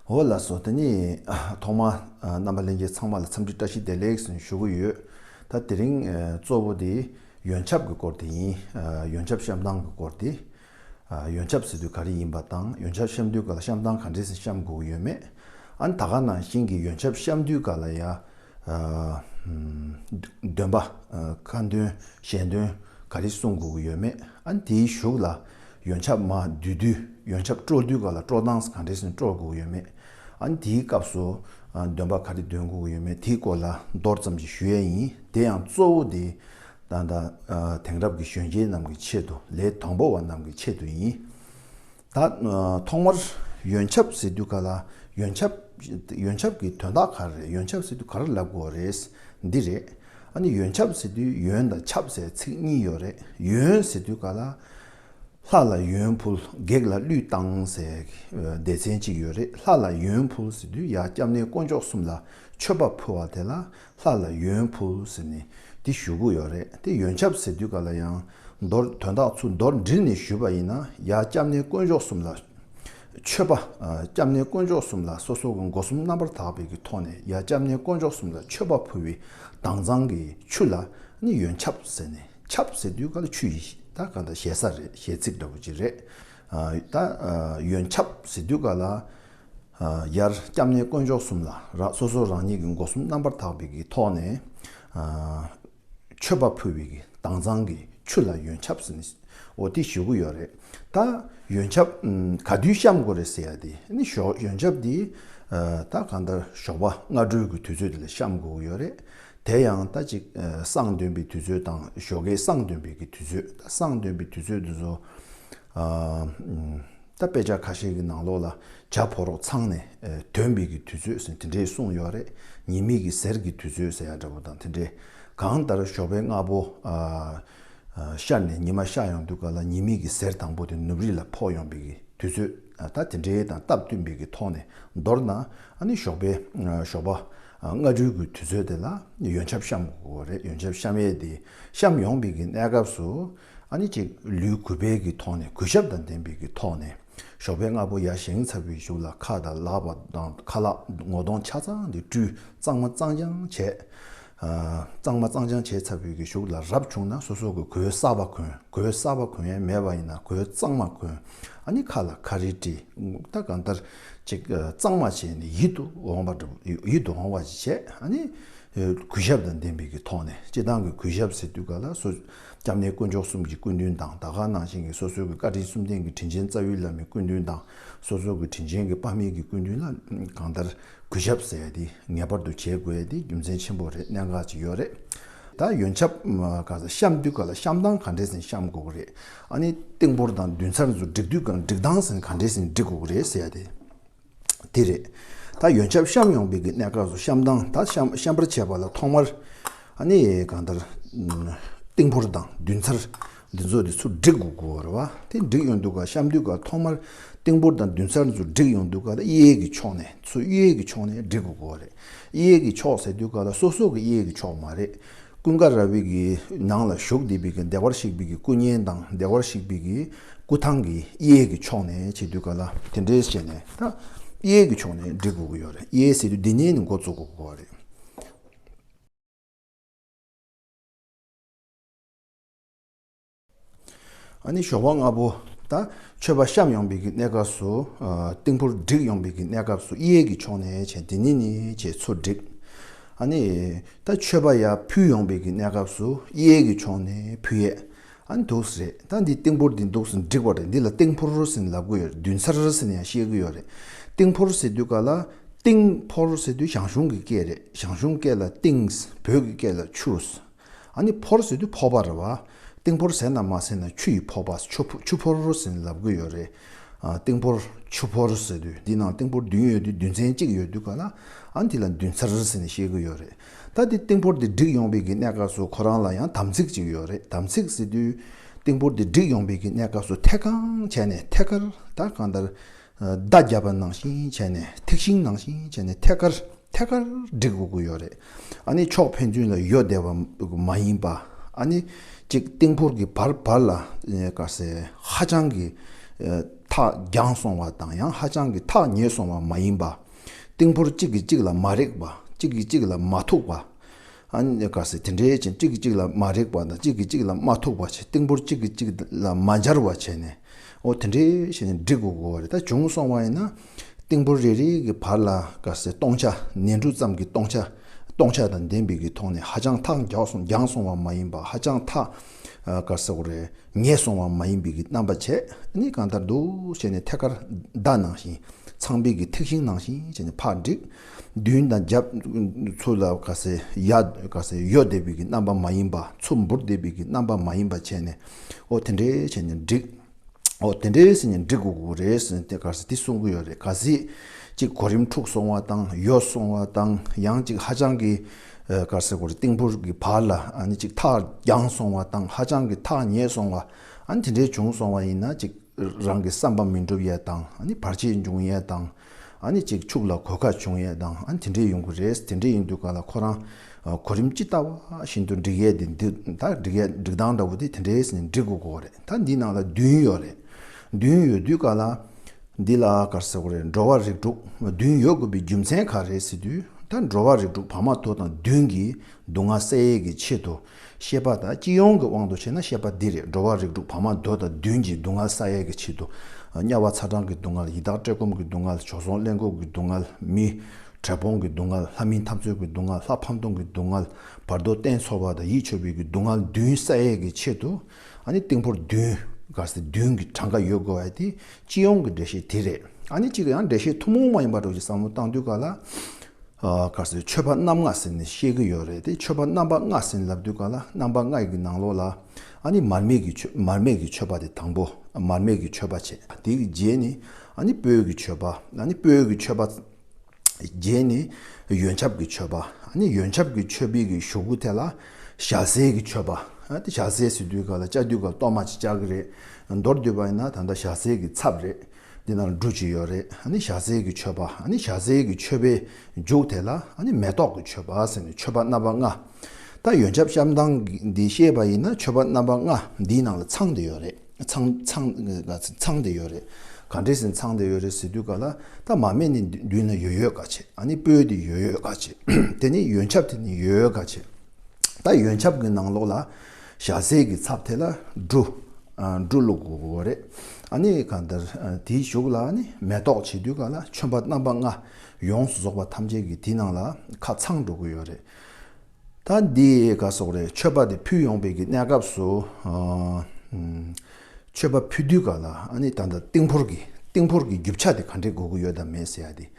འོ་ལགས་སོ་དེ་ནི་ཐོག་མར་རྣམ་པ་ལྷན་རྒྱས་ཚང་མ་ལ་འཚམས་འདྲི་བཀྲ་ཤིས་བདེ་ལེགས་ཞུ་གི་ཡོད། ད་དེ་རིང་གཙོ་བོ་དེ་ཡོན་ཆབ་ཀྱི་སྐོར་དེ་ཡིན། ཡོན་ཆབ་བཤམས་སྟངས་ཀྱི་སྐོར་དེ། ཡོན་ཆབ་ཟེར་དུས་ག་རེ་ཡིན་པ་དང་ཡོན་ཆབ་བཤམས་དུས་སྐབས་ལ་བཤམས་སྟངས་ག་འདྲས་བཤམས་དགོས་ཀྱི་ཡོད་མེད། ཨ་ནི་ད་ག་ནང་བཞིན་གྱི་ཡོན་ཆབ་བཤམས་དུས་སྐབས་ལ་ཡང། འདོན་པ། ཁ་འདོན་གཞན་འདོན་ག་རེ་གསུང་དགོས་ཀྱི་ཡོད་མེད་ཨ་འདིའི་གཞུག་ལ་ཡོན་ཆབ་མ་བསྡུས་དུས་ཡོན་ཆབ་སྤྲོ་བསྡུས་ག་ལ་སྤྲོ་སྟངས་ག་འདྲེ་ཟིན་སྤྲོ་དགོས་ཀྱི་ཡོད་མེད་ཨ་འདིའི་སྐབས་སུ་འདོན་པ་ག་རེ་འདོན་དགོས་ཀྱི་ཡོད་མེད་དེའི་སྐོར་ལ་མདོར་ཙམ་ཞིག་ཞུ་ཡས་ཡིན་དེ་ཡང་གཙོ་བོ་དེ་དང་དེང་རབས་ཀྱི་གཞོན་སྐྱེས་རྣམས་ཀྱི་ཆེད་དུ་ལས་དང་པོ་བ་རྣམས་ཀྱི་ཆེད་དུ་ཡིན། ད། ཐོག་མར་ཡོན་ཆབ་ཟེར་དུས་ག་ལ་ཡོན་ཆབ། ཡོན་ཆབ་ཀྱི་དོན་དག་ག་རེ་རེད་ཡོན་ཆབ་ཟེར་དུས་ག་རེ་ལབ་དགོས་རེད། འདི་རེད། ཨ་ནི་ཡོན་ཆབ་ཟེར་དུས་ཡོན་དང་ཆབ་ཟེར་ཚིག་གཉིས་ཡོད་རེད་ཡོན་ཟེར་དུས་ག་ལ། ལྷ་ལ་ཡོན་ཕུལ་བགེགས་ལ་གླུད་བཏང་ཟེར་སྡེ་ཚན་གཅིག་ཡོད་རེད་ལྷ་ལ་ཡོན་ཕུལ་ཟེར་དུས་ཡང་སྐྱབས་གནས་དཀོན་མཆོག་གསུམ་ལ་མཆོད་པ་ཕུལ་བ་དེ་ལ་ལྷ་ལ་ཡོན་ཕུལ་ཟེར་ནས་འདི་ཞུ་གི་ཡོད་རེད་དེ་ཡོན་ཆབ་ཟེར་དུས་ག་ལ་ཡང་མདོར་དོན་དག་ཚུལ་མདོར་འདྲིལ་ནས་ཞུས་པ་ཡིན་ན་ཡ་སྐྱབས་གནས་དཀོན་མཆོག་གསུམ་ལ་མཆོད་པ་སྐྱབས་གནས་དཀོན་མཆོག་གསུམ་ལ་སོ་སོ་གི་མགོ་གསུམ་རྣམ་པར་དག་པའི་གི་ཐོག་ནས་ཡ་སྐྱབས་གནས་དཀོན་མཆོག་གསུམ་ལ་མཆོད་པ་ཕུལ་བའི་དྭངས་གཙང་གི་ཆུ་ལ་ནི་ཡོན་ཆབ་ཟེར་ནས་ཆབ་ཟེར་དུས་ག་ལ་ཆུ་ཡི་ད་ག་ད་ཞེ་ས་རེད་ཞེ་ཚིག་འདྲ་པོ་ཅིག་རེད་ད་ཡོན་ཆབ་ཟེར་དུས་ག་ལ་ཡར་སྐྱབས་གནས་དཀོན་མཆོག་གསུམ་ལ་རག་སོ་སོ་རང་ཉིད་ཀྱི་སྒོ་གསུམ་རྣམ་པར་དག་པའི་གི་ཐོག་ནས་མཆོད་པ་ཕུལ་བའི་གི་དྭངས་གཙང་གི་ཆུ་ལ་ཡོན་ཆབ་ཟིན་འོ་དེ་ཞུ་གི་ཡོད་རེད་ད་ཡོན་ཆབ་ག་དུས་བཤམ་དགོས་རེད་ཟེར་ཡ་དེ་ནི་ཞོག་ཡོན་ཆབ་དེ་ད་ག་འདར་ཞོགས་པ་སྔ་དྲོའི་གི་དུས་ཚོད་དེ་ལ་བཤམ་དགོས་གི་ཡོད་རེད་དེ་ཡང་ད་ཅིག་བསང་འདོན་པའི་དུས་ཚོད་དང་ཞོགས་གའི་བསང་འདོན་པའི་གི་དུས་ཚོད་ད་བསང་འདོན་པའི་དུས་ཚོད་དུ་ཟོ། ད་དཔེ་ཆ་ཁ་ཤས་ཀྱི་ནང་ལོགས་ལ་བྱ་ཕོ་རོག་ཚང་ནས་དོན་མེད་ཀྱི་དུས་ཚོད་ཟེར་དེ་འདྲས་གསུངས་ཡོད་རེད་ཉེས་མེད་ཀྱི་ཟེར་གྱི་དུས་ཚོད་ཟེར་ཡ་འདྲ་བོ་དང་དེ་འདྲས་གང་ལྟར་ཞོགས་པའི་རྔ་བོ་ཤར་ནས་ཉི་མ་ཤར་ཡོང་དུས་ག་ལ་ཉེས་མེད་ཀྱི་ཟེར་དང་པོ་དེ་ནུབ་རི་ལ་ཕོག་ཡོང་པའི་གི་དུས་ཚོད་ད་དེ་འདྲས་དང་སྟབས་བསྟུན་པའི་གི་ཐོག་ནས་མདོར་ན་ཨ་ནི་ཞོགས་པའི་ཞོགས་པ་རྔ་སྦྲུལ་གྱི་དུས་ཚོད་དེ་ལ་ཡོན་ཆབ་བཤམས་དགོས་རེད་ཡོན་ཆབ་བཤམས་ཡས་དེ་བཤམས་ཡོང་པའི་གི་གནས་སྐབས་སུ། ཨ་ནི་གཅིག་ལུས་གུས་པས་ཀྱི་ཐོག་ནས་གུས་ཞབས་དང་ལྡན་པས་ཀྱི་ཐོག་ནས། ཞོགས་པའི་རྔ་པོ་ཡར་བཞེངས་ཚར་བུའི་གཞུག་ལ་ཁ་དང་ལག་པ་དང་ཁ་ལག་ངོ་གདོང་ཆ་ཚང་དེ་བཀྲུས་གཙང་མ་གཙང་སྦྱང་བྱས། གཙང་མ་གཙང་སྦྱང་བྱས་ཚར་བུའི་ཀྱི་གཞུག་ལ་རབ་བྱུང་ན་སོ་སོ་གི་གོས་གསར་བ་གོན་གོས་གསར་བ་གོན་ཡས་མེད་པ་ཡིན་ན་གོས་གཙང་མ་གོན་ཨ་ནི་ཁ་ལ་ཁ་རིལ་དཀྲི་ངུག་ཐ་གང་ལྟར་གཅིག་གཙང་མ་བྱས་ནས་ཡིད་དུ་འོང་བ་ཡིད་དུ་འོང་བ་བྱས་ཨ་ནི་གུས་ཞབས་དང་ལྡན་པས་ཀྱི་ཐོག་ནས་སྤྱི་བཏང་གི་གུས་ཞབས་ཟེར་དུས་ག་ལ་སོ། སྐྱབས་གནས་དཀོན་མཆོག་གསུམ་གྱི་སྐུ་མདུན་དང་ད་ག་ནང་བཞིན་གྱི་སོ་སོའི་གི་བཀའ་དྲིན་སུམ་ལྡན་གྱི་དྲིན་ཆེན་རྩ་བའི་བླ་མའི་སྐུ་མདུན་དང་སོ་སོའི་གི་དྲིན་ཆེན་གྱི་དཔའ་མིའི་གི་སྐུ་མདུན་ལ་གང་ལྟར་གུས་ཞབས་ཟས་དེ་ངེས་པར་དུ་བྱེད་དགོས་དེ་རྒྱུ་མཚན་ཆེན་པོ་རེད་གནད་འགག་ཅིག་ཡོད་རེད་ད་ཡོན་ཆབ་ག་ས་བཤམས་དུས་ག་ལ་བཤམས་སྟངས་ག་འདྲས་ཟིན་བཤམས་དགོས་གི་རེད་ཨ་ནི་སྟེང་འབོར་དང་མདུན་ཚར་ཚུར་བསྒྲིགས་དུས་ག་འགྲིགས་སྟངས་ཟིན་ག་འདྲས་ཟིན་བསྒྲིགས་དགོས་གི་རེད་ཟས་དེ། དེ་རེད། ད་ཡོན་ཆབ་བཤམས་ཡོང་དཔེ་གི་གནས་སྐབས་སུ་བཤམས་སྟངས་ད་བཤམས་པར་བྱས་པ་ལ་ཐོག་མར་ཨ་ནི་གང་ལྟར་ཏིང་ཕོར་དང་བདུན་ཚར་འདི་ཚོ་དེ་ཚུར་བསྒྲིགས་དགོས་དགོས་བར་བ་དེ་བསྒྲིགས་ཡོང་དུས་ཀ་བཤམས་དུས་ཀ་ཐོག་མར་ཏིང་ཕོར་དང་བདུན་ཚར་ཚོ་བསྒྲིགས་ཡོང་དུས་ཀ་ད་གཡས་ཀྱི་ཕྱོགས་ནས་ཚུར་གཡས་ཀྱི་ཕྱོགས་ནས་བསྒྲིགས་དགོས་དགོས་བ་རེད། གཡས་ཀྱི་ཕྱོགས་ཟེར་དུས་ཀ་ད་སོ་སོ་གི་གཡས་ཀྱི་ཕྱོགས་མ་རེད། ཀུན་དགའ་ར་བིག་གི་ནང་ལ་ཞུགས་བདེ་བིག་གི་བདེ་བར་གཤེགས་བིག་གི་སྐུ་བརྙན་དང་བདེ་བར་གཤེགས་བིག་གི་སྐུ་ཐང་གི་གཡས་ཀྱི་ཕྱོགས་ནས་བྱེད་དུས་ག་ལ་དེ་འདྲས་བྱས་ནས་ད་གཡས་ཀྱི་ཕྱོགས་ནས་འབྲི་དགོས་ཀྱི་ཡོད་རེད་གཡས་ཟེར་དུས་འདི་ཉིད་ནས་འགོ་བཙུགས་དགོས་པ་རེད། ནི་ཞོགས་པ་སྔ་པོ་དང་མཆོད་པ་བཤམས་ཡོང་བའི་གི་གནས་སྐབས་སུ། རྟིང་ཕུར་བསྒྲིགས་ཡོང་བའི་གི་གནས་སྐབས་སུ་གཡས་ཀྱི་ཕྱོགས་ནས་བྱས་འདི་ནི་ནི་ཅེས་ཚུར་བསྒྲིགས། ནི། ད་མཆོད་པ་ཡར་ཕུལ་ཡོང་བའི་གི་གནས་སྐབས་སུ་གཡས་ཀྱི་ཕྱོགས་ནས་ཕུལ། ཡས་ནི་དུགས་སུ་རེད་ད་འདི་རྟིང་ཕུར་འདི་འདུག་སུ་འགྲིག་པ་རེད་འདི་ལ་རྟིང་ཕུར་ཟེར་ནི་ལབ་གི་ཡོད་རེད་བདུན་ཚར་ཟེར་ནི་ཡང་བཤད་གི་ཡོད་རེད། རྟིང་ཕོར་ཟེར་དུས་ག་ལ། རྟིང། ཕོར་ཟེར་དུས་ཞང་ཞུང་གི་སྐད་རེད་ཞང་ཞུང་སྐད་ལ་རྟིང། བོད་ཀྱི་སྐད་ལ་ཆུ། ཨ་ནི་ཕོར་ཟེར་དུས་ཕོར་པ་རེད་བ། ཏིང་ཕོར་ཟེར་ན་མ་ཟེར་ན་ཆུ་ཡི་ཕོར་པ་ཆུ་ཕོར་ཟེར་ལབ་གི་ཡོད་རེད། ཏིང་ཕོར་ཆུ་ཕོར་ཟེར་དུས་འདི་ནང་ཏིང་ཕོར་བདུན་ཡོད་དུས་བདུན་ཚན་གཅིག་ཡོད་དུས་ག་ལ་ཨ་འདི་ལ་བདུན་ཚར་ཟེར་ནས་བཤད་གི་ཡོད་རེད། ད་དེ་ཏིང་ཕོར་དེ་བསྒྲིགས་ཡོང་བའི་གི་གནས་སྐབས་སུ་ཁོ་རང་ལ་ཡང་དམ་ཚིག་ཅིག་ཡོད་རེད་དམ་ཚིག་ཟེར་དུས། ཏིང་ཕོར་དེ་བསྒྲིགས་ཡོང་བའི་གི་གནས་སྐབས་སུ་ཐད་གང་བྱས་ནས་ཐད་ཀར་ད་གང་ལྟར་བརྡ་བརྒྱབ་པ་ནང་བཞིན་བྱས་ནས་ཐེག་ཤིང་ནང་བཞིན་བྱས་ནས་ཐད་ཀར་ཐད་ཀར་འགྲིག་དགོས་ཀྱི་ཡོད་རེད། ཨ་ནི་ཕྱོགས་ཕན་ཚུན་ལ་ཡོད་བསྡད་པ་མ་ཡིན་པ། ཨ་ནི་གཅིག་སྟེང་འཁོར་གྱི་བར་བར་ལ་དཀའ་སེ་ཧ་ཅང་གི་ཐག་རྒྱངས་སོང་བ་དང་ཡང་ཧ་ཅང་གི་ཐག་ཉེ་སོང་བ་མ་ཡིན་པ། སྟེང་འཁོར་གཅིག་གིས་གཅིག་ལ་མ་རེག་པ་གཅིག་གིས་གཅིག་ལ་མ་ཐུག་པ། ག་སེ་དེ་འདྲའི་ཅན་གཅིག་གིས་གཅིག་ལ་མ་རེག་པ་དང་གཅིག་གིས་གཅིག་ལ་མ་ཐུག་པ་བྱས་ཏིང་པོར་གཅིག་གིས་གཅིག་ལ་མ་འབྱར་བ་བྱས་ནས། འོ་དེ་འདྲའི་ཞེས་ནི་འགྲིག་གོ་གོ་བ་རེ་ད་བྱུང་སོང་བ་ཡིན་ན། ཏིང་པོར་རེ་རེ་གི་བར་ལ་ག་སེ་སྟོང་ཆ་ནས་འབྲུ་ཙམ་གྱི་སྟོང་ཆ་སྟོང་ཆ་དང་ལྡན་པའི་གི་ཐོག་ནས་ཧ་ཅང་ཐག་འགྱངས་སོང་བ་མ་ཡིན་པ་ཧ་ཅང་ཐག་ག་སེ་གོ་རེ་ངས་སོང་བ་མ་ཡིན་པའི་གི་རྣམ་པ་བྱས་ནི་གང་ལྟར་འདུག་བྱས་ནས་ཐད་ཀར་བརྡ་ནང་བཞིན་ཚངས་པའི་གི་ཐིག་ཤིང་ནང་བཞིན་བྱས་ནས་ཕར་འགྲིག། མདུན་དང་རྒྱབ། ཚུར་ལ་དགའ་སའི་གཡའ། དགའ་སའི་གཡོ་བདེ་བིག་གི་རྣམ་པ་མ་ཡིན་པ། ཚུར་འབུར་བདེ་བིག་གི་རྣམ་པ་མ་ཡིན་པ་བྱས་ནས། ཨོ་དེ་འདྲའི་བྱས་ནས་འགྲིག། ཨོ་དེ་འདྲའི་ཟེར་ནས་འགྲིག་དགོས་ཀྱི་རེད་ཟེར་ནས་དེ་གར་དེ་གསུང་གི་ཡོད་རེད། གལ་སྲིད། གཅིག་གོ་རིམ་འཁྲུགས་སོང་བ་དང་ཡོ་སོང་བ་དང་ཡང་གཅིག་ཧ་ཅང་གི། གར་སའི་གོ་རེ་ཏིང་འབུར་གྱི་བར་ལ་ཨ་ནི་གཅིག་ཐག་རྒྱང་སོང་བ་དང་ཧ་ཅང་གི་ཐག་ཉེ་སོང་བ། ཨ་ནི་དེ་འདྲའི་བྱུང་སོང་བ་ཡིན་ན་གཅིག། རང་གི་བསམ་པ་མི་འགྲུབ་ཡས་དང་བར་ཆད་འབྱུང་ཡས་དང། གཅིག་ཕྱུགས་ལ་གོད་ཁ་བྱུང་ཡས་དང་དེ་འདྲས་ཡོང་གི་རེད་དེ་འདྲས་ཡིན་དུས་ག་ལ་ཁོ་རང་གོ་རིམ་ཅི་ལྟ་བ་བཞིན་དུ་འགྲིག་ཡས་དེ་འདི་ད་འགྲིག་ཡས་འགྲིག་སྟངས་འདྲ་བོ་དེ་དེ་འདྲས་ནས་འགྲིག་དགོས་གོ་རེད་ད་འདི་ནང་ལ་བདུན་ཡོད་རེད་བདུན་ཡོད་དུས་ག་ལ་འདི་ལ་གར་ཟེར་གོ་རེད་འགྲོ་བ་རིགས་དྲུག་བདུན་ཡོད་དགོས་པའི་རྒྱུ་མཚན་ག་རེད་ཟེར་དུས་ད་འགྲོ་བ་རིགས་དྲུག་བར་མ་དོ་དང་བདུན་གྱིས་སྡུག་བསྔལ་སེལ་ཡས་ཀྱི་ཆེད་དུ་ཤེས་པ་དང་སྤྱི་ཡོངས་ཀྱི་དབང་དུ་བྱས་ན་ཤེས་པ་འདིས་རེས་འགྲོ་བ་རིགས་དྲུག་བར་མ་དོ་དང་བདུན་གྱི་སྡུག་བསྔལ་ས་ཡལ་གྱི་ཕྱིར་དུ། དམྱལ་བ་ཚ་གྲང་གི་སྡུག་བསྔལ་ཡི་དྭགས་བཀྲེས་སྐོམ་གྱི་སྡུག་བསྔལ་བྱོལ་སོང་གླེན་ལྐུགས་ཀྱི་སྡུག་བསྔལ་མི། བྲེལ་ཕོངས་ཀྱི་སྡུག་བསྔལ་ལྷ་མིན་འཐབ་རྩོད་ཀྱི་སྡུག་བསྔལ་ལྷ་ཕམ་སྟོང་གི་སྡུག་བསྔལ་བར་དོ་བརྟན་འཚོ་བ་དང་ཡིད་ཆོས་པའི་གྱི་སྡུག་བསྔལ་བདུན་ས་ཡལ་གྱི་ཕྱིར་དུ། ཨ་ནི་སྟེང་ཕོར་བདུན། སྒར་སེ་བདུན་གྱི་གྲངས་ཀ་ཡོད་དགོས་པ་དེ་སྤྱི་ཡོངས་ཀྱི་འགྲེལ་བཤད་དེ་རེད། ཨ་ནི་གཅིག་ཡང་འགྲེལ་བཤད་ཐུང་མོང་མ་ཡིན་པ་དྲུག་ཅིག་བསམ་བློ་བཏང་དུས་ག་ལ། སྒར་སེ་ཆོས་པ་རྣམ་ལྔ་ཟེར་ནས་བཤད་ཀྱི་ཡོད་རེད་དེ་ཆོས་པ་རྣམ་པ་ལྔ་ཟིན་ལབ་དུས་ག་ལ་རྣམ་པ་ལྔ་ཡི་གི་ནང་ལོགས་ལ། ཨ་ནི་མར་མེ་གི་ཆོས་མར་མེ་གི་ཆོས་པ་དེ་དང་པོ། མར་མེ་གི་ཆོས་པ་བྱས་དེ་གི་རྗེས་ནི་ཨ་ནི་སྤོས་ཀྱི་ཆོས་པ་ཨ་ནི་སྤོས་ཀྱི་ཆོས་པ། བརྒྱད་ནི་ཡོན་ཆབ་ཀྱི་མཆོད་པ། ནི་ཡོན་ཆབ་ཀྱི་མཆོད་པའི་གི་ཞུགས་གུ་དེ་ལ་ཞག་ཟས་ཀྱི་མཆོད་པ། ཏེ་ཞག་ཟས་སི་ཏུའི་ག་ལ་ལྕགས་དུས་ག་ལ་གཏོར་མ་ཅི་ལྕགས་ཀྱི་རེད། མདོར་བསྡུས་པ་ཡིན་ན་ད་ལྟ་ཞག་ཟས་ཀྱི་ཚབ་རེད། འདི་ན་འབྲུ་ཅི་ཡོད་རེད། ནི་ཞག་ཟས་ཀྱི་མཆོད་པ། ནི་ཞག་ཟས་ཀྱི་མཆོད་པའི་མཇུག་དེ་ལ་ནི་མེ་ཏོག་གི་མཆོད་པ་ཟེར་ནས་མཆོད་པ་རྣམ་པ་ལྔ། ད་ཡོན་ཆབ་བཤམས་སྟངས་འདི་ཤེས་པ་ཡིན་ན་མཆོད་པ་རྣམ་པ་ལྔ་འདིའི་ནང་ལ་ཚང་དེ་ཡོད་རེད། ཚང་ཚང་ཚང་དེ་ཡོད་རེད། ག་འདྲས་ཟིན་ཚང་དེ་ཡོད་རེད་ཟེར་དུས་ག་ལ་ད་མ་སྨད་ནི་མདུན་ན་ཡོད་ཡོད་ག་བྱེད་ཨ་ནི་སྤོས་དེ་ཡོད་ཡོད་ག་བྱེད་དེ་ནི་ཡོན་ཆབ་དེ་ནི་ཡོད་ཡོད་ག་བྱེད་ད་ཡོན་ཆབ་གི་ནང་ལོགས་ལ་ཞྭ་ཟས་ཀྱི་ཚབ་དེ་ལ་འབྲུ་འབྲུ་ལོ་གོ་གོ་རེད་ཨ་ནི་ག་འདྲ་དེའི་གཞུག་ལ་ནི་མེ་ཏོག་བྱེད་དུས་ག་ལ་ཆོན་པ་རྣམ་པ་ལྔ་ཡོངས་སུ་རྫོགས་པ་ཐམས་ཅད་ཀྱི་དེའི་ནང་ལ་ཁ་ཚང་འགྲོ་གི་ཡོད་རེད། ད་འདི་ག་སོག་རའི་མཆོད་པ་དེ་ཕུལ་ཡོང་བའི་གི་གནས་སྐབས་སུ། མཆོད་པ་ཕུལ་དུས་ག་ལ་ཨ་ནི་ད་ལྟ་ཏིང་ཕོར་གི་ཏིང་ཕོར་གི་རྒྱུ་ཆ་དེ་ག་འདྲས་དགོས་ཀྱི་ཡོད་དམ་མེད་ཟེར་ཡ་དེ།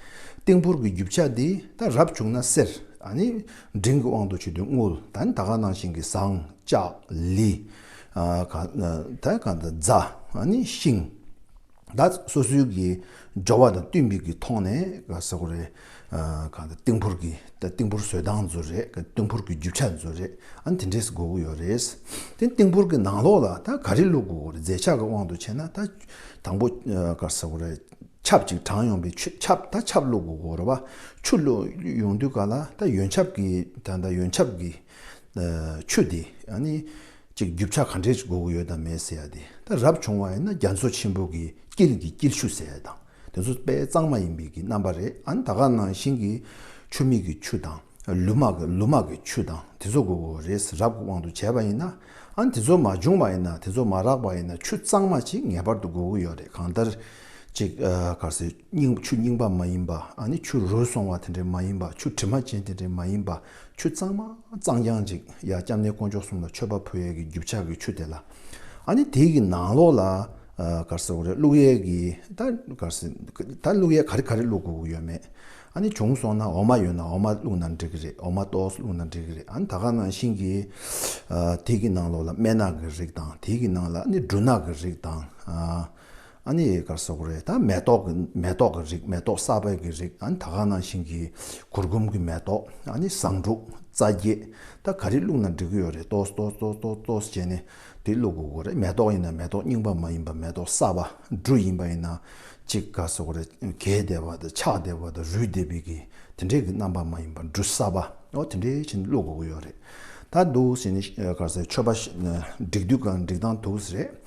ཏིང་ཕོར་གི་རྒྱུ་ཆ་དེ་ད་རབ་བྱུང་ན་གསེར་ཨ་ནི་འབྲིང་གི་དབང་དུ་ཆུད་དུས་དངུལ་ད་ནི་ད་ག་ནང་བཞིན་གི་ཟངས་ལྕགས་ལི། ད་ག་ད་རྫ་ཨ་ནི་ཤིང། ད་སོ་སོའི་གི་སྦྱོར་བ་དང་བསྟུན་པའི་གི་ཐོག་ནས་ག་ས་གོ་རེད། གང་ཟེར་ཏིང་ཕུར་གི་ཏིང་ཕུར་བཟོས་སྟངས་མཛོད་རེད་ག་ཏིང་ཕུར་གི་རྒྱུ་ཆ་མཛོད་རེད་ཨང་དེ་འདྲས་སུ་གོ་གི་ཡོད་རེད། དེ་ཏིང་ཕུར་གི་ནང་ལོགས་ལ་ད་ག་རེ་བླུག་དགོས་གོ་རེད་རྫས་ཆ་གི་དབང་དུ་བྱས་ན་ད་དང་པོ་ག་ས་གོ་རེད་ཆབ་ཅིག་གྲང་ཡོང་པའི་ཆུ་ཆབ་ད་ཆབ་བླུག་དགོས་གོ་རེད་བ་ཆུ་བླུག་ཡོང་དུས་ག་ལ་ད་ཡོན་ཆབ་གི་ད་ཡོན་ཆབ་གི་ཆུ་དེ་ཨ་ནི། ཅིག་རྒྱུ་ཆ་ག་འདྲས་ཀྱི་དགོས་མཁོ་ཡོད་དམ་མེད་ཟེར་ཡ་དེ་ད་རབ་བྱུང་བ་ཡིན་ན་རྒྱ་མཚོ་ཆེན་པོ་གི་དཀྱིལ་གྱི་དཀྱིལ་ཆུ་ཟེར་ཡ་དང་དེ་ཚོ་དཔེ་གཙང་མ་ཡིན་པའི་གི་རྣམ་པ་རེད་ཨ་ན་ད་ག་ནང་བཞིན་གི་ཆུ་མིག་གི་ཆུ་དང་ལུ་མག་གི་ལུ་མག་གི་ཆུ་དང་དེ་ཚོ་དགོས་མཁོ་རེད་རབ་གི་དབང་དུ་བྱས་པ་ཡིན་ན་ཨ་ན་དེ་ཚོ་མ་བྱུང་བ་ཡིན་ན་དེ་ཚོ་མ་རག་པ་ཡིན་ན་ཆུ་གཙང་མ་ཅིག་ངེས་པར་དུ་དགོས་མཁོ་ཡོད་རེད་གང་ལྟར་ཅིག་ག་སེ་རྙིང་ཆུ་རྙིང་པ་མ་ཡིན་པ་ཨ་ནི་ཆུ་རུལ་སོང་བ་དེ་འདྲས་མ་ཡིན་པ་ཆུ་དྲི་མ་ཅན་དེ་འདྲས་མ་ཡིན་པ། ཆུ་གཙང་མ་གཙང་རྐྱང་ཅིག་ཡ་སྐྱབས་གནས་དཀོན་མཆོག་གསུམ་ལ་མཆོད་པ་ཕུལ་ཡས་ཀྱི་རྒྱུ་ཕྱག་གི་ཆུ་དེ་ལ་ཨ་ནི་དེ་ཀྱི་ནང་ལོགས་ལ་གར་སེ་འོ་རེད་བླུགས་ཡས་ཀྱི་ད་གར་སེ་ད་བླུགས་ཡས་ག་རེ་ག་རེ་བླུགས་དགོས་ཀྱི་ཡོད་མེད་ཨ་ནི་བྱུང་སོང་ན་འོ་མ་ཡོད་ན་འོ་མ་བླུགས་ན་འགྲིག་གི་རེད་འོ་མ་ཏོག་བླུགས་ན་འགྲིག་གི་རེད་ཨ་ནི་ད་ག་ནང་བཞིན་གྱི་དེ་ཀྱི་ནང་ལོགས་ལ་སྨན་ནག་གི་རིགས་དང་དེ་ཀྱི་ནང་ལ་ཨ་ནི་འབྲུ་ནག་གི་རིགས་དང། ཨ་ནི་ཡི་གར་སོགས་རེད་ད་མེ་ཏོག་གི་མེ་ཏོག་གི་རིགས་མེ་ཏོག་གསར་པའི་གི་རིགས་ཨ་ནི་ད་ག་ནང་ཞིང་གི་གུར་གུམ་གི་མེ་ཏོག་ཨ་ནི་བཟང་དྲུག་རྩ་བརྒྱད་ད་ག་རིགས་བླུག་ན་འགྲིག་གི་ཡོད་རེད་ཏོས་ཏོས་ཏོས་ཏོས་ཏོས་བྱས་ནས་དེ་བླུག་དགོས་གི་རེད་མེ་ཏོག་ཡིན་ན་མེ་ཏོག་རྙིང་པ་མ་ཡིན་པ་མེ་ཏོག་གསར་པ་འབྲུ་ཡིན་པ་ཡིན་ན་གཅིག་ག་སོགས་རེད་གས་བསྡད་པ་དང་ཆགས་བསྡད་པ་དང་རུལ་བསྡད་པའི་གི་དེ་འདྲའི་གི་རྣམ་པ་མ་ཡིན་པ་འབྲུ་གསར་པ་ཨོ་དེ་འདྲའི་བྱས་ནས་བླུག་དགོས་གི་ཡོད་རེད་ད་འདུག་བྱས་ནས་གར་སའི་མཆོད་པ་བསྒྲིག་དུས་གང་འགྲིག་སྟངས་འདུག་རེད།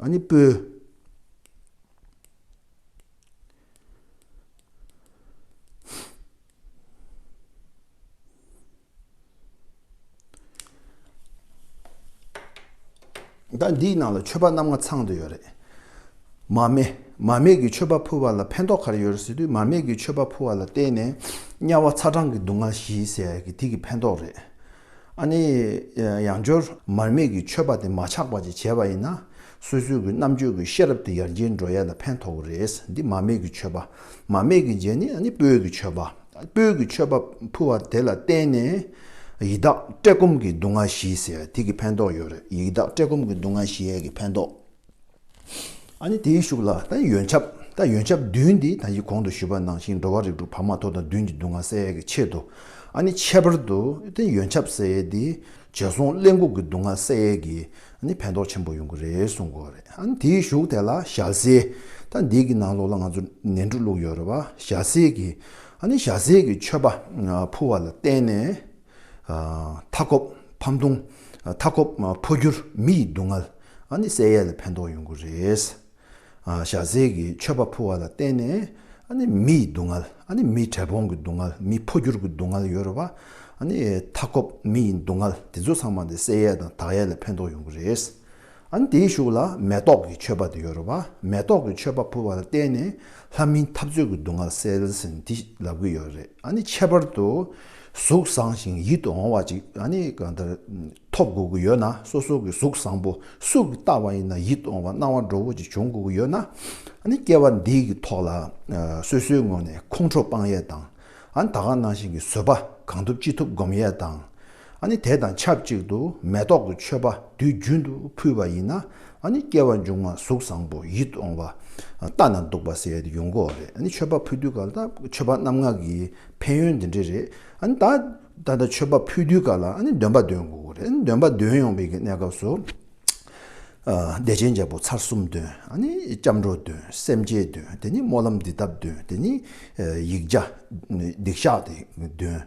ཨ་ནི་སྤོས། ཟླ་འདིའི་ནང་ལ་མཆོད་པ་རྣམ་ལྔ་ཚང་དུ་ཡོད་རེད། མ་སྨད། མ་སྨད་ཀྱི་མཆོད་པ་ཕུལ་བ་ལ་ཕན་ཐོགས་ག་རེ་ཡོད་རེད་ཟེར་དུས་མ་སྨད་ཀྱི་མཆོད་པ་ཕུལ་བ་ལ་བརྟེན་ནས་དམྱལ་བ་ཚ་གྲང་གི་སྡུག་བསྔལ་ཞི་ཟེར་གི་དེ་གི་ཕན་ཐོགས་རེད། ཨ་ནི། ཡང་སྦྱོར། མར་མེ་གི་མཆོད་པ་དེ་མ་ཆག་པ་བཅས་བྱས་པ་ཡིན་ན། སོ་སོའི་གི་རྣམ་དཔྱོད་ཀྱི་ཤེས་རབ་དེ་ཡར་རྒྱས་འགྲོ་ཡས་ལ་ཕན་ཐོག་གི་རེད། འདི་མར་མེ་གི་མཆོད་པ། མར་མེ་གི་རྗེས་ནི་ཨ་ནི་སྤོས་ཀྱི་མཆོད་པ། སྤོས་ཀྱི་མཆོད་པ་ཕུལ་བ་དེ་ལ་བརྟེན་ནས། ཡི་དྭགས་བཀྲེས་སྐོམ་གྱི་སྡུག་བསྔལ་ཞི་ཟེར་དེ་གི་ཕན་ཐོག་ཡོད་རེད་ཡི་དྭགས་བཀྲེས་སྐོམ་གྱི་སྡུག་བསྔལ་ཞི་ཡས་ཀྱི་ཕན་ཐོག། ཨ་ནི་དེའི་ཤུགས་ལ་ད་ཡི་ཡོན་ཆབ་ད་ཡོན་ཆབ་བདུན་འདི་ད་ཡི་གོང་དུ་ཞུས་པ་ནང་བཞིན་འགྲོ་བ་རིགས་དྲུག་བར་མ་དོ་དང་བདུན་གྱི་སྡུག་བསྔལ་བསལ་ཡས་ཀྱི་ཆེད་དུ་ཨ་ནི་ཁྱད་པར་དུ་ད་ཡི་ཡོན་ཆབ་བསལ་ཡས་འདི་བྱས་སོང་གླེན་ལྐུགས་ཀྱི་སྡུག་བསྔལ་བསལ་ཡས་ཀྱི་ཨ་ནི་ཕན་ཐོགས་ཆེན་པོ་ཡོང་གི་རེད་གསུངས་གོ་རེད་ཨ་ནི་དེའི་ཤུགས་དེ་ལ་ཞྭ་སེ་ད་འདི་གི་ནང་ལོགས་ལ་ང་ཚོ་ནན་དྲུག་བླུགས་ཡོད་རེད་བ་ཞྭ་སེ་གྱི་ཨ་ནི་ཞྭ་སེ་གྱི་མཆོད་པ་ཕུལ་བ་ལ་བརྟེན་ནས། མཐའ་འཁོབ་ཕམ་ལྟུང། མཐའ་འཁོབ་འཕོ་འགྱུར་མི་ཡི་སྡུག་བསྔལ་ཨ་ནི་བསལ་ཡས་ལ་ཕན་ཐོགས་ཡོང་གི་རེད། ཞྭ་སེར་གྱི་མཆོད་པ་ཕུལ་བ་ལ་བརྟེན་ནས་ཨ་ནི་མི་ཡི་སྡུག་བསྔལ་ཨ་ནི་མི་བྲལ་སྤོང་གི་སྡུག་བསྔལ་མི་འཕོ་འགྱུར་གྱི་སྡུག་བསྔལ་ཡོད་རེད་བ། ཨ་ནི་མཐའ་འཁོབ་མི་ཡི་སྡུག་བསྔལ་དེ་ཚོ་ཚང་མ་དེ་བསལ་ཡས་དང་དག་ཡས་ལ་ཕན་ཐོགས་ཡོང་གི་རེད། ཨཱ་དེའི་གཞུག་ལ་མེ་ཏོག་གི་མཆོད་པ་དེ་ཡོད་རོ་བ་མེ་ཏོག་གི་མཆོད་པ་ཕུལ་བ་ལ་བརྟེན་ནས་ལྷ་མིའི་འཐབ་རྩོད་ཀྱི་སྡུག་བསྔལ་སེལ་ཟིན་དེ་ལབ་གི་ཡོད་རེད་ཨཱ་ནི་ཁྱད་པར་དུ་གཟུགས་བཟང་ཞིང་ཡིད་དུ་འོང་བ་ཅིག་ཨཱ་ནི་གང་ལྟར་ཐོབ་དགོས་ཀྱི་ཡོད་ན་སོ་སོ་གི་གཟུགས་བཟང་པོ་སུ་གི་ལྟ་བ་ཡིན་ན་ཡིད་དུ་འོང་བ་སྣང་བ་འགྲོ་བོ་ཅིག་འབྱུང་དགོས་ཀྱི་ཡོད་ན་ཨཱ་ནི་སྐྱེ་བ་འདི་གི་ཐོག་ལ་སོ་སོའི་ངོས་ནས་ཁོང་ཁྲོ་སྤངས་ཡས་དང་ཨཱ་ནི་ད་གང་སྣང་བཞིན་གྱི་བཟོད་པ་གང་ཐུབ་ཅི་ཐུབ་སྒོམ་ཡས་དང། ཨ་ནི་དེ་དང་ཆབས་ཅིག་ཏུ་མེ་ཏོག་གི་མཆོད་པ་དུས་རྒྱུན་དུ་ཕུལ་བ་ཡིན་ན་ཨ་ནི་སྐྱེ་བ་མཇུག་མ་གཟུགས་བཟང་པོ་ཡིད་འོང་བ་ལྟ་ན་སྡུག་པ་ཟེར་ཡོད་ཀྱི་འགོ་རེད་ཨ་ནི་མཆོད་པ་ཕུལ་དུས་ག་ལ་མཆོད་པ་རྣམ་ངག་གི་ཕན་ཡོན་འདི་འདྲ་རེད་ཨ་ནི་ད་ད་ལྟ་མཆོད་པ་ཕུལ་དུས་ག་ལ་ཨ་ནི་འདོན་པ་འདོན་དགོས་ཀྱི་རེད་ཨ་ནི་འདོན་པ་འདོན་ཡོང་བའི་གི་གནས་སྐབས་སུ་བདེ་ཆེན་རྒྱལ་པོ་ཚར་གསུམ་འདོན་ཨ་ནི་སྐྱབས་འགྲོ་འདོན་སེམས་བསྐྱེད་འདོན་དེ་ནི་སྨོན་ལམ་འདི་ལྟ་བུ་འདོན་དེ་ནི་ཡིག་བརྒྱ་སྡིག་བཤགས་འདོན།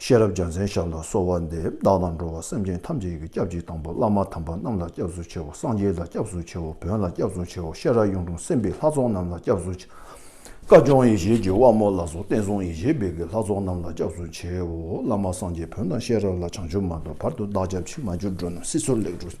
ཤེས་རབ་རྒྱ་མཚན་ཞབས་ལ་གསོལ་བ་འདེབས་བདག་དང་འགྲོ་བ་སེམས་ཅན་ཐམས་ཅད་ཀྱི་སྐྱབས་གཅིག་དང་པོ་བླ་མ་དམ་པ་རྣམས་ལ་སྐྱབས་སུ་མཆིའོ་སངས་རྒྱས་ལ་སྐྱབས་སུ་མཆིའོ་བོན་ལ་སྐྱབས་སུ་མཆིའོ་ཤེས་རབ་གཡུང་དྲུང་སེམས་དཔའི་ལྷ་ཚོགས་རྣམས་ལ་སྐྱབས་སུ་མཆིའོ། བཀའ་སྐྱོང་ཡེ་ཤེས་ཀྱི་དབང་མོ་ལ་སོགས་བསྟན་སྲུང་ཡེ་ཤེས་འབེལ་གྱི་ལྷ་ཚོགས་རྣམས་ལ་སྐྱབས་སུ་མཆིའོ། བླ་མ་སངས་རྒྱས་བོན་དང་ཤེས་རབ་ལ་བྱང་ཆུབ་མ་ཐོབ་བར་དུ་བདག་སྐྱབས་མཆི་མ་འགྱུར་འགྲོ་རྣམས་སྲིད་མཚོར་ལེགས་འགྲོ།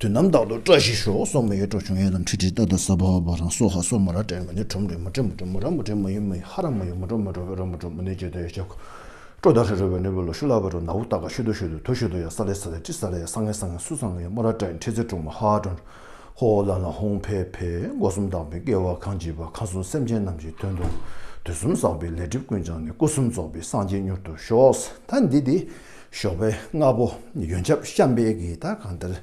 དུས་ནམ་ཐག་ཏུ་བཀྲ་ཤིས་ཤོག་སོགས་མ་ཡོད་སྤྲོ་བྱུང་ཡོད་ལ་འཁྲིད་ཁྲིད་ཏག་ཏག་སྭ་བྷཱ་བྷཱ་བྷཱ་རང་སོ་ཧ་སོ་མ་ར་བྲལ་མ་ནུས་བྲོ་མ་བྲོས་མ་བྲོས་མ་བྲོས་མ་ར་མ་བྲོས་མ་ཡུལ་མ་ཡུལ་ཧ་ར་མ་ཡུལ་མ་བྲོ་མ་བྲོ་བས་རོ་མ་བྲོ་མ་ནུས་བཅད་དོ་ཡ་ཤ་ཁུ། སྤྲོ་ད་ཧྲི་རོལ་བའི་ནུས་པ་ལོ་ཤུ་ལ་བ་རོ་ན་ཝུ་ཏཱ་ཀ་ཤུ་དོ་ཤུ་དོ་དོ་ཤུ་དོ་ཡ་སྭ་ལེ་སྭ་ལེ་ཏྲི་སྭ་ལེ་ཡ་སྭ་ངེ་སྭ་ངེ་སུ་སྭ་ངེ་ཡ་མ་ར་བྲལ་འཁྲིད་ཚེ་བྲོ་མ་ཧ་བྲོ་འགྲོ། ཧོ་ཧོ་ལ་ལ་ཧོང་བྷེ་བྷེ་སྒོ་གསུམ་དག་པའི་སྐལ་བ་གང་བགྱིས་པ་གང་གསུང་སེམས་ཅན་རྣམས་ཀྱི་དོན་དུ། དུས་གསུམ་བསགས་པའི་ལས་སྒྲིབ་ཀུན་བྱང་ནས་སྐུ་གསུམ་རྫོགས་པའི་སངས་རྒྱས་མྱུར་དུ་ཤོག། ད་འདི་དེ། ཞོགས་པའི་སྔ་པོ་ཡོན་ཆབ་བཤམས་པས་གིས་ད་གང་འདིར།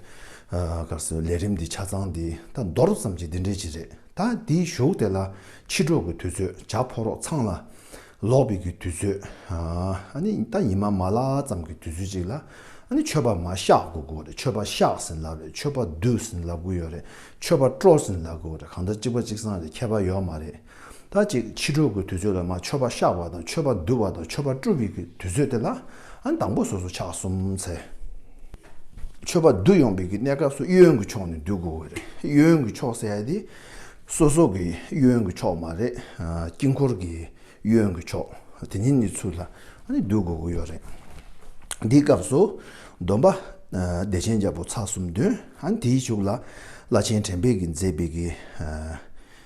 སྐབས་སུ་ལས་རིམ་འདི་ཆ་ཚང་འདི་ད་མདོར་ཙམ་གྱིས་འདི་འདྲའི་ཅི་རེད་ད་འདི་བཞུགས་དེ་ལ་ཕྱི་དྲོ་གི་དུས་ཚོད་བྱ་ཕོ་རོག་ཚང་ལ་ལོག་པའི་གི་དུས་ཚོད། ཨ་ནི་ད་ཉི་མ་མ་ལགས་ཙམ་གི་དུས་ཚོད་ཅིག་ལ་ཨ་ནི་མཆོད་པ་མ་བཤགས་དགོས་དགོས་རེད་མཆོད་པ་བཤགས་ཟིན་ལབ་རེད་མཆོད་པ་བསྡུས་ཟིན་ལབ་དགོས་ཡོད་རེད་མཆོད་པ་སྤྲོ་ཟིན་ལབ་དགོས་རེད་གང་ལྟར་གཅིག་པ་གཅིག་ཚང་རེད་ཁྱད་པར་ཡོད་མ་རེད། ད་ཅིག་ཕྱི་དྲོ་གི་དུས་ཚོད་ལ་མ་ཆོས་པ་བཤགས་པ་དང་ཆོས་པ་བསྡུ་བ་དང་ཆོས་པ་བཀྲུ་བའི་གི་དུས་ཚོད་དེ་ལ་ཨང་དང་པོ་སོ་སོ་ཕྱག་གསུམ་འཚལ། ཆོས་པ་བསྡུ་ཡོང་པའི་གི་གནས་སྐབས་སུ་གཡས་གཡོན་གྱི་ཕྱོགས་ནས་བསྡུ་དགོས་གི་རེད་གཡས་གཡོན་གྱི་ཕྱོགས་ཟེར་ཡ་དེ་སོ་སོ་གི་གཡས་གཡོན་གྱི་ཕྱོགས་མ་རེད་དཀྱིལ་འཁོར་གྱི་གཡས་གཡོན་གྱི་ཕྱོགས་དེ་ཉིད་ནས་ཚུར་ལ་བསྡུ་དགོས་གི་ཡོད་རེད། འདིའི་སྐབས་སུ་སྡོམ་པ་བདེ་ཆེན་རྒྱལ་པོ་ཚ་གསུམ་འདོན་ཨང་དེའི་གཞུག་ལ་བླ་ཆེན་དྲན་པས་གི་མཛད་པའི་གི།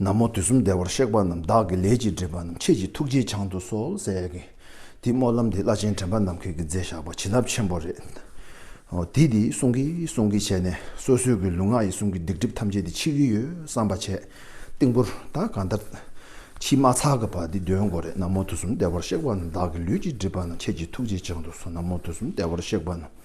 ན་མོ་དུས་གསུམ་བདེ་བར་གཤེགས་པ་རྣམས་བདག་གི་ལས་ཀྱིས་སྒྲིབ་པ་རྣམས་ཁྱེད་ཀྱི་ཐུགས་རྗེའི་བྱང་དུ་གསོལ། ཀྱེ་འདི་སྨོན་ལམ་འདི་བླ་ཆེན་དྲན་པ་ནམ་མཁའི་གི་མཛད་བཞག་པ་བྱིན་རླབས་ཆེན་པོ་རེད། དེས་འདི་གསུང་གིས་གསུང་གིས་བྱས་ནས་སོ་སོའི་གི་ལུས་ངག་ཡིད་གསུམ་གི་སྡིག་སྒྲིབ་ཐམས་ཅད་འདི་ཕྱིས་གི་ཡོད་བསམ་པ་བྱས། ཏིང་ཕུར་དག་གང་ལྟར། ཕྱིས་མ་ཚག་གི་བར་འདི་འདོན་དགོས་རེད་ན་མོ་དུས་གསུམ་བདེ་བར་གཤེགས་པ་རྣམས་བདག་གི་ལུས་ཀྱིས་སྒྲིབ་པ་རྣམས་ཁྱེད་ཀྱི་ཐུགས་རྗེའི་བྱང་དུ་གསོལ་ན་མོ་དུས་གསུམ་བདེ་བར་གཤེགས་པ་རྣམས།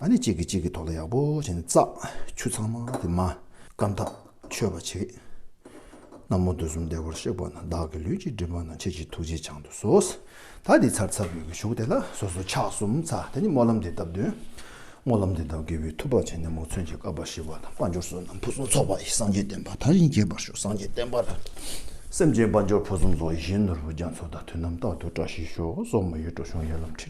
ཨ་ནི་གཅིག་གིས་གཅིག་གི་ཐོག་ལ་ཡག་པོ་བྱས་ནས་བཙག། ཆུ་ཚང་མ་དེ་མ། སྐམ་ཐག་ཆོད་པ་བྱེད། ན་མོ་དུས་གསུམ་བདེ་བར་གཤེགས་པ་ན་བདག་གི་ལུས་ཀྱི་སྒྲིབ་པ་ན་ཁྱེད་ཀྱི་ཐུགས་རྗེ་འཆང་དུ་གསོལ། ད་དེའི་ཚར་ཚར་བུད་ཀྱི་གཞུག་དེ་ལ་སོ་སོ་ཕྱག་གསུམ་ཚ་དེ་ནས་སྨོན་ལམ་འདི་ལྟ་བདུན། སྨོན་ལམ་འདི་ལྟ་དགེ་བའི་ཐུབ་པ་བྱས་ནས་མོ་མཚོན་གྱི་བསྐལ་པ་ཞི་བ་དང་དཔའ་འབྱོར་བསོད་ནམས་ཕུན་སུམ་ཚོགས་པ་ཡི་སངས་རྒྱས་བསྟན་པ་དར་ཞིང་རྒྱས་པར་ཤོག་སངས་རྒྱས་བསྟན་པ་དང་སེམས་ཅན་དཔའ་འབྱོར་ཕུན་སུམ་ཚོགས་ཡིད་བཞིན་ནོར་བུ་རྒྱ་མཚོ་དང་དུས་རྣམ་དག་ཏུ་བཀྲ་ཤིས་ཤོག་སོགས་མོ་ཡི་བྲོ་གཞུང་ཡར་ལམ་ཁྲིད།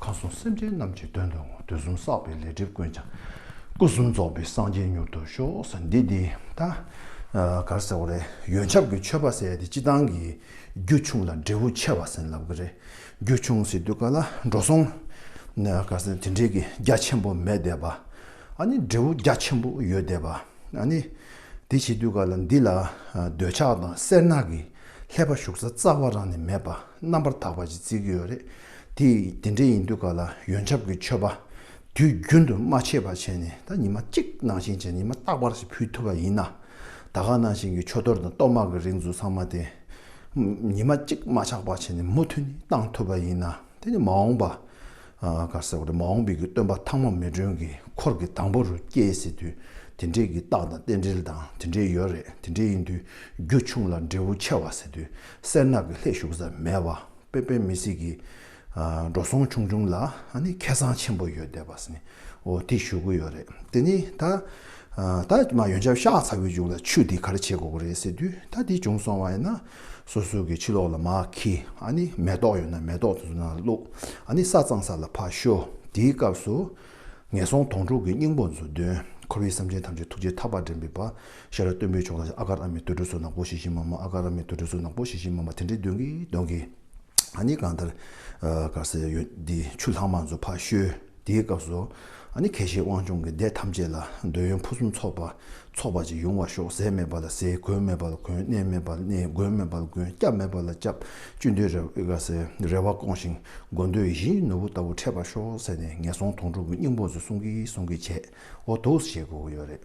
གང་གསུང་སེམས་ཅན་རྣམས་ཀྱི་དོན་དུ་ངོ་བསྟོད་གསུམ་བསགས་པའི་ལས་སྒྲིབ་ཀུན་བྱང། སྐུ་གསུམ་རྫོགས་པའི་སངས་རྒྱས་མྱུར་དུ་ཤོག། ཟེར་འདི་འདི་ད་གར་ཟེར་བ་རེད། ཡོན་ཆབ་ཀྱི་མཆོད་པ་བསད་དེ་སྤྱི་བཏང་གི། རྒྱུ་ཆུང་ལ་འབྲས་བུ་ཆེ་བ་ཟིན་ལབ་གི་རེད། རྒྱུ་ཆུང་ཟིན་དུས་ག་ལ་འགྲོ་སོང། ག་ཟེར་དེ་འདྲས་ཀྱི་རྒྱ་ཆེན་པོ་མེད་བསྡད་པ། ཨ་ནི་འབྲས་བུ་རྒྱ་ཆེན་པོ་ཡོད་བསྡད་པ། ཨ་ནི། དེ་བྱེད་དུས་ག་ལ་འདི་ལ་འདོད་ཆགས་དང་སེར་སྣ་གིས་ལྷད་པ་ཞུགས་ས་རྩ་བ་རང་ནས་མེད་པ་རྣམ་པར་དག་པ་ཅིག་བརྩིས་ཀྱི་ཡོད་རེད། དེ་དེ་འདྲ་ཡིན་དུས་ག་ལ་ཡོན་ཆབ་ཀྱི་མཆོད་པ་དུས་རྒྱུན་དུ་མ་བྱས་པ་བྱས་ནས་ད་ཉི་མ་གཅིག་ནང་བཞིན་བྱས་ནས་ཉི་མ་རྟག་པར་ཞིག་ཕུལ་ཐུབ་པ་ཡིན་ན། ད་ག་ནང་བཞིན་གྱི་མཆོད་གཏོར་དང་གཏོར་དམག་གི་རིགས་འཛུགས་ཚང་མ་དེ་ཉི་མ་གཅིག་མ་ཆག་པར་བྱས་ནས་མུ་མཐུད་ནས་གཏང་ཐུབ་པ་ཡིན་ན་དེ་ནི་མ་འོངས་པ་གར་ཟེར་བ་དེ་མ་འོངས་པའི་གི་སྟོན་པ་ཐང་མ་མེ་སྒྲོན་གྱི་འཁོར་གྱི་དང་པོ་རུ་སྐྱེ་སྲིད་དུས་དེ་འདྲའི་གི་རྟགས་དང་རྟེན་འབྲེལ་དང་དེ་འདྲའི་ཡོད་རེད་དེ་འདྲའི་ཡིན་དུས་རྒྱུ་ཆུང་ལ་འབྲས་བུ་ཆེ་བ་ཟེར་དུས་སེར་ནག་གི་ལྷད་ཞུགས་ས་མེད་བ། པེ་པེ་མི་སི་གི་འགྲོ་སོང་ཆུང་ཆུང་ལ་ཁེ་བཟང་ཆེན་པོ་ཡོད་བསྡད་པ་སི་ནི་འོ་དེ་ཞུ་གི་ཡོད་རེད་དེ་ནི་ད་ད་མ་ཡོན་ཆབ་ཤག་ཚ་བོའི་མཇུག་ལ་ཆུ་དེ་གར་བྱེད་དགོས་ཀྱི་རེད་ཟེར་དུས་ད་དེ་བྱུང་སོང་བ་ཡིན་ན་སོ་སོ་གི་ཕྱི་ལོག་ལ་མ་ཁི་མེ་ཏོག་ཡོད་ན་མེ་ཏོག་དེ་ཚོ་ནང་ལ་བླུགས་ས་གཙང་ས་ལ་ཕ་ཤོ་དེའི་སྐབས་སུ་ངན་སོང་དོང་སྤྲུག་གི་སྙིང་པོ་མཛོད་བདུན་འཁོར་བའི་སེམས་ཅན་ཐམས་ཅད་ཐུགས་རྗེ་ཐག་པ་འགྲན་པའི་བ་ཤ་ར་སྟོན་པོའི་ཕྱོགས་ལ་ཨ་ཀ་ར་མའི་དུད་འགྲོ་ཚོ་ནག་པོ་ཞིག་ཤི་མ་མ་ཨ་ཀ་ར་མའི་དུད་འགྲོ་ཚོ་ནག་པོ་ཞིག་ཤི་མ་མ་དེ་འདྲའི་གདོན་གྱིས་གདོན་གྱིས། ཨ་ནི་གང་ལྟར། གར་སའི་ཡུལ་འདི་ཆུ་ལྷག་མ་ཚོ་ཕ་བཤོལ་དེའི་སྐབས་སུ། ཨ་ནི་གལ་ཤེས་དབང་ཕྱུང་གི་སྡེ་ཐམས་ཅད་ལ་འདོད་ཡོན་ཕུན་སུམ་ཚོགས་པ་ཚོགས་པ་ཅིག་ཡོང་བར་ཤོག་ཟས་མེད་པ་ལ་ཟས་གོས་མེད་པ་ལ་གོས་གནས་མེད་པ་ལ་གནས་གོས་མེད་པ་ལ་གོས་སྐྱབས་མེད་པ་ལ་སྐྱབས་བཅུད་འདོད་རེ་བ་སྐོང་ཞིང་སྒོ་འདོད་བཞིའི་ནོར་བུ་ལྟ་བུ་འཕྲད་པར་ཤོག་ཟེར་ནས་ངན་སོང་དོང་སྤྲུག་གི་སྙིང་པོ་ཚོ་གསུང་གིས་གསུང་གིས་བྱས། འོ་དུགས་བྱེད་དགོས་ཀྱི་ཡོད་རེད།